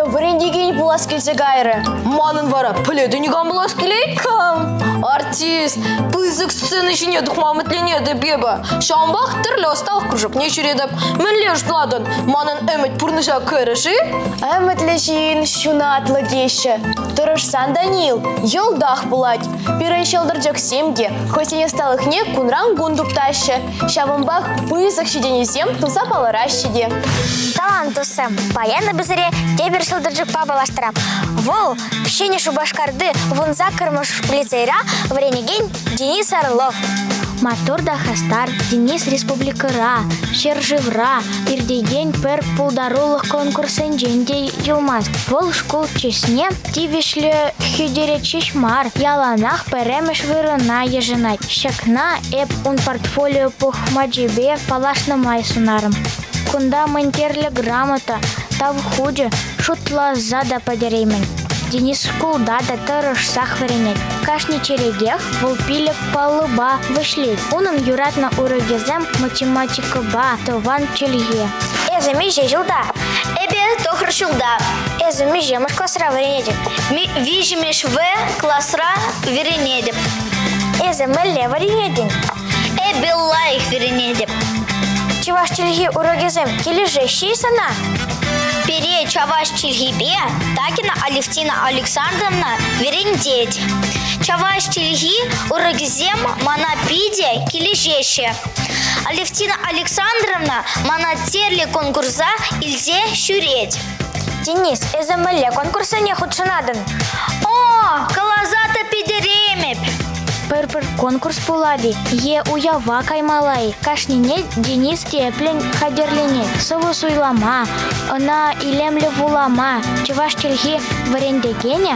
вӗрентекен пулас килсе кайрӗ. Манӑн вара пӗлетӗн кам пулас килет-ха? Артист, пысӑк сцена ҫине тухма ӗмӗтленетӗп эпӗ. Ҫавӑнпах тӗрлӗ ӑсталӑх кружокне ҫӳретӗп. Мӗнле ӑш тӑватӑн? Манӑн ӗмӗт пурнӑҫа кӗрӗ-ши? Ӗмӗтлӗҫин ҫунатлӑ теҫҫӗ. Тӑрӑшсан, Даниил, йӑлтах пулать. Пирӗн ҫӑлтӑрчӑксем те хӑйсен ӑсталӑхне кунран-кун туптаҫҫӗ. Ҫавӑнпах пысӑк ҫитӗнӳсем туса палӑраҫҫӗ те. Талант тусем, паян эпӗ сире тепӗр ҫӑлтӑрчӑкпа паллаштарам. Вӑл Ҫӗнӗ Шупашкарти вунса кӑрмӑш лицейра вӗренекен Денис Орлов. Маттур та хастар Денис республикӑра, ҫӗршывра иртекен пӗр пултарулӑх конкурсӗнчен те юлмасть. Вӑл шкул чысне Тивӗҫлӗ хӳтӗрет ҫеҫ мар, яланах пӗрремӗш вырӑна йышӑнать. Ҫакна эп ун портфолио пухмачӗпе паллашнӑ май сунарӑм. Кунта мӗн кирлӗ грамота, тав хучӗ, шутласа та пӗтереймӗн. Денис шкулта та тӑрӑшсах вӗренет. Кашни черетех вӑл пилӗк паллӑпа вӗҫлет. Унӑн юратнӑ урокӗсем математикӑпа тӑван чӗлхе. Эсӗ миҫе ҫулта? Эпӗ тӑхӑр ҫулта. Эсӗ миҫемӗш класра вӗренетӗн? Виҫӗмӗш В класра вӗренетӗп. Эсӗ мӗнле вӗренетӗн? Эпӗ лайӑх вӗренетӗп. Чӑваш чӗлхи урокӗсем килӗшеҫҫӗ-и сана? Пире чӑваш чӗлхипе Такина Алевтина Александровна вӗрентет. Чавайс чӗлхи урокӗсем мана питӗ килӗшеҫҫӗ. Алевтина Александровна мана тӗрлӗ конкурса илсе ҫӳрет. Денис, эсӗ мӗнле конкурссене хутшӑнатӑн? О, каласа та пӗтеремӗп. Пӗр-пӗр конкурс пулать-и е уява каймалла-и, кашнине Денис тӗплӗн хатӗрленет. Сӑвӑ суйлама, ӑна илемлӗ вулама чӑваш чӗлхи вӗрентекенӗ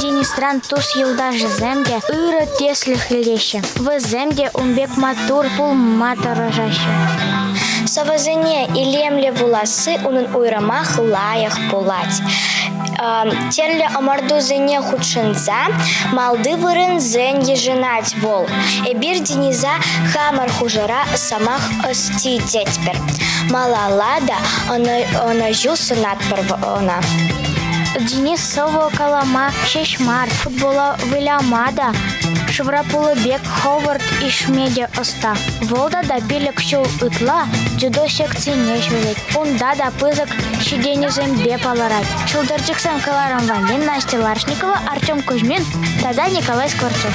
Динистран тус-юлташӗсем те ырӑ тӗслӗх илеҫҫӗ, вӗсем те ун пек маттур пулма тӑрӑшаҫҫӗ. Сӑвӑсене илемлӗ вуласси унӑн уйрӑмах лайӑх пулать. Тӗрлӗ ӑмӑртусене хутшӑнса малти вырӑнсен йышӑнать вӑл. Эпир Дениса хамӑр хушӑра сӑмах ӑсти тетпӗр. Малалла та ӑнӑҫу сунатпӑр ӑна. Денис Сӑвӑ калама ҫеҫ мар, футбола выляма та, шывра пулӑ пек хӑвӑрт ишме те ӑста. Вӑл тата пилӗк ҫул ытла дзюдо секцине ҫӳрет. Унта та пысӑк ҫитӗнӳсемпе палӑрать. Чултӑрчӑксем кӑларӑм валли Настя Ларшникова, Артем Кузьмин тата Николай Скворцов.